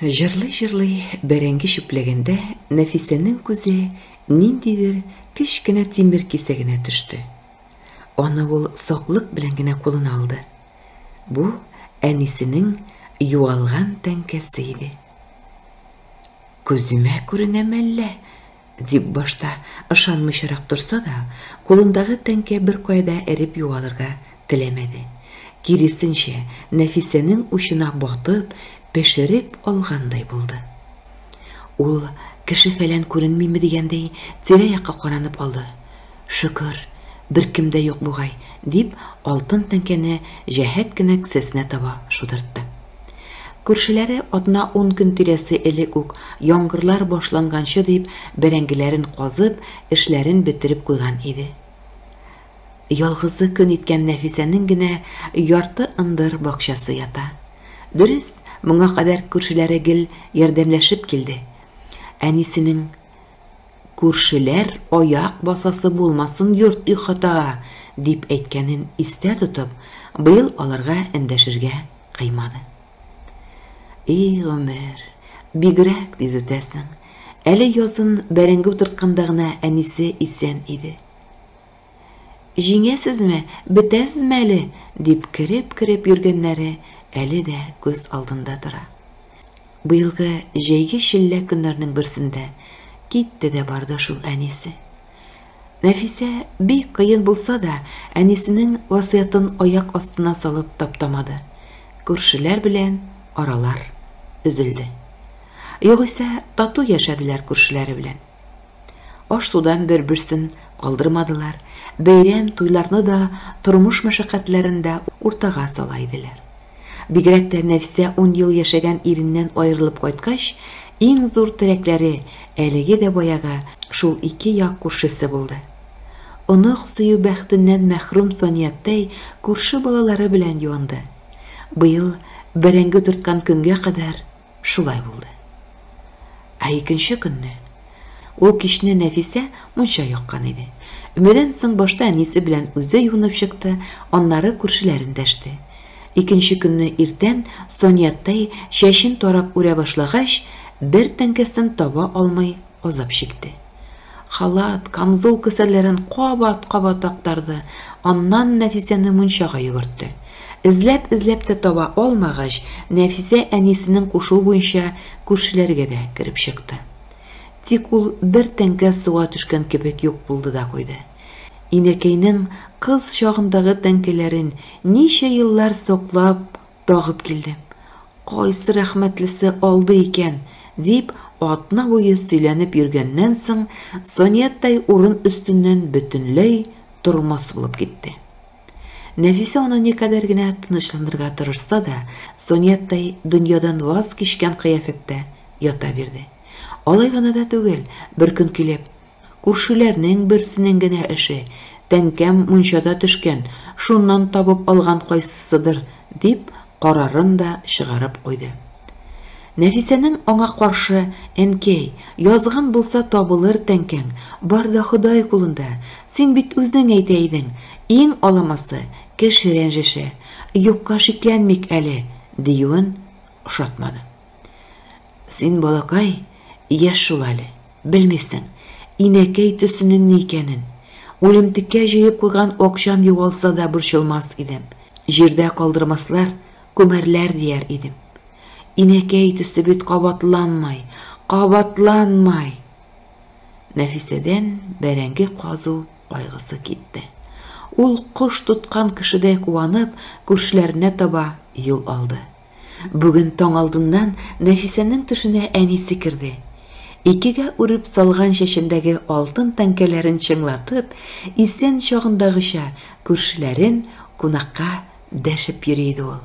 Җырлый-җырлый бәрәңге чүпләгәндә Нәфисәнең күзе ниндидер кечкенә тимер кисәгенә төште. Аны ул саклык белән генә кулына алды. Бу, әнисенең югалган тәңкәсе иде. Күземә күренәме әллә? Дип башта ышанмыйчарак торса да, кулындагы тәңкә беркая да эреп югалырга теләмәде. Киресенчә, Нәфисәнең учына батып, пешереп алгандай булды. Ул, кеше-фәлән күренмиме дигәндәй, тирә-якка каранып алды. Шөкер, беркем дә юк бугай, дип, алтын тәңкәне җәһәт кенә кесәсенә таба шудыртты. Күршеләре атна-ун көн тирәсе элек үк, яңгырлар башланганчы дип, бәрәңгеләрен казып, эшләрен бетереп куйган иде. Ялгызы көн иткән Нәфисәнең генә ярты ындыр бакчасы ята. Дөрес, моңа кадәр күршеләре гел ярдәмләшеп килде. Әнисенең. Күршеләр аяк басасы булмасын йорт-ихатага, дип әйткәнен истә тотып, быел аларга эндәшергә кыймады. И гомер, бигрәк тиз үтәсең. Әле язын бәрәңге утыртканда гына әнисе исән иде. Җиңәсезме, бетәсезме әле? дип кереп-кереп йөргәннәре әле дә күз алдында тора. Быелгы җәйге челлә көннәрнең берсендә китте дә барды шул әнисе. Нәфисә бик кыен булса да, әнисенең васыятын аяк астына салып таптамады. Күршеләр белән аралар өзелде. Югыйсә тату яшәделәр күршеләре белән. Аш-судан бер-берсен калдырмадылар, бәйрәм, туйларны да, тормыш мәшәкатьләрен дә уртага сала иделәр. Бигрәк тә Нәфисә ун ел яшәгән иреннән аерылып кайткач, иң зур теләкләре әлеге дә баягы шул ике як күршесе булды. Онык сөю бәхетеннән мәхрүм Санияттай күрше балалары белән юанды. Быел бәрәңге төрткән көнгә кадәр, Шулай булды. Ә икенче көнне, ул кичне Нәфисә мунча яккан иде. Өмәдән соң башта әнисе белән үзе юынып чыкты, аннары күршеләрен дәште. Икенче көнне иртән Сонияттай чәчен тарап үрә башлагач, бер тәңкәсен таба алмый Азап чикте. Халат, камзул кесәләрен кабат-кабат актарды, аннан Нәфисәне мунчага йөгертте. Эзләп-эзләп тә таба алмагач, Нәфисә әнисенең кушуы буенча күршеләргә дә кереп чыкты. Тик ул бер тәңкә суга төшкән кебек юк булды да куйды. Инәкәйнең кыз чагындагы тәңкәләрен ничә еллар саклап, Тагып килдем. Кайсы рәхмәтлесе алды икән? дип, атна буе сөйләнеп йөргәннән соң, Санияттай урын өстеннән бөтенләй тормас булып китте. Нәфисә аны никадәр генә тынычландырырга тырышса да, Санияттай дөньядан ваз кичкән кыяфәттә ята бирде. Алай гына да түгел, беркөн килеп, Күршеләрнең берсенең генә эше, тәңкәм мунчада төшкән, шуннан табып алган кайсысыдыр, дип, карарын да чыгарып куйды. Нәфисәнең аңа каршы, Әнкәй, язган булса табылыр тәңкәң, бар да Ходай кулында, син бит үзең әйтә идең, иң аламасы, кеше рәнҗеше, юкка шикләнмик әле, диюен ошатмады. Син, балакай, яшь шул әле. Белмисең, инәкәй төсенең ни икәнен. Үлемтеккә җыеп куйган акчам югалса да борчылмас идем. Җирдә калдырмаслар, күмәрләр дияр идем. Инәкәй төсе бит кабатланмай, кабатланмай! Нәфисәдән бәрәңге казу кайгысы китте. Ул, кош тоткан кешедәй куанып, күршеләренә таба юл алды. Бүген таң алдыннан Нәфисәнең төшенә әнисе керде. Икегә үреп салган чәчендәге алтын тәңкәләрен чыңлатып, исән чагындагыча күршеләрен кунакка дәшеп йөри иде ул.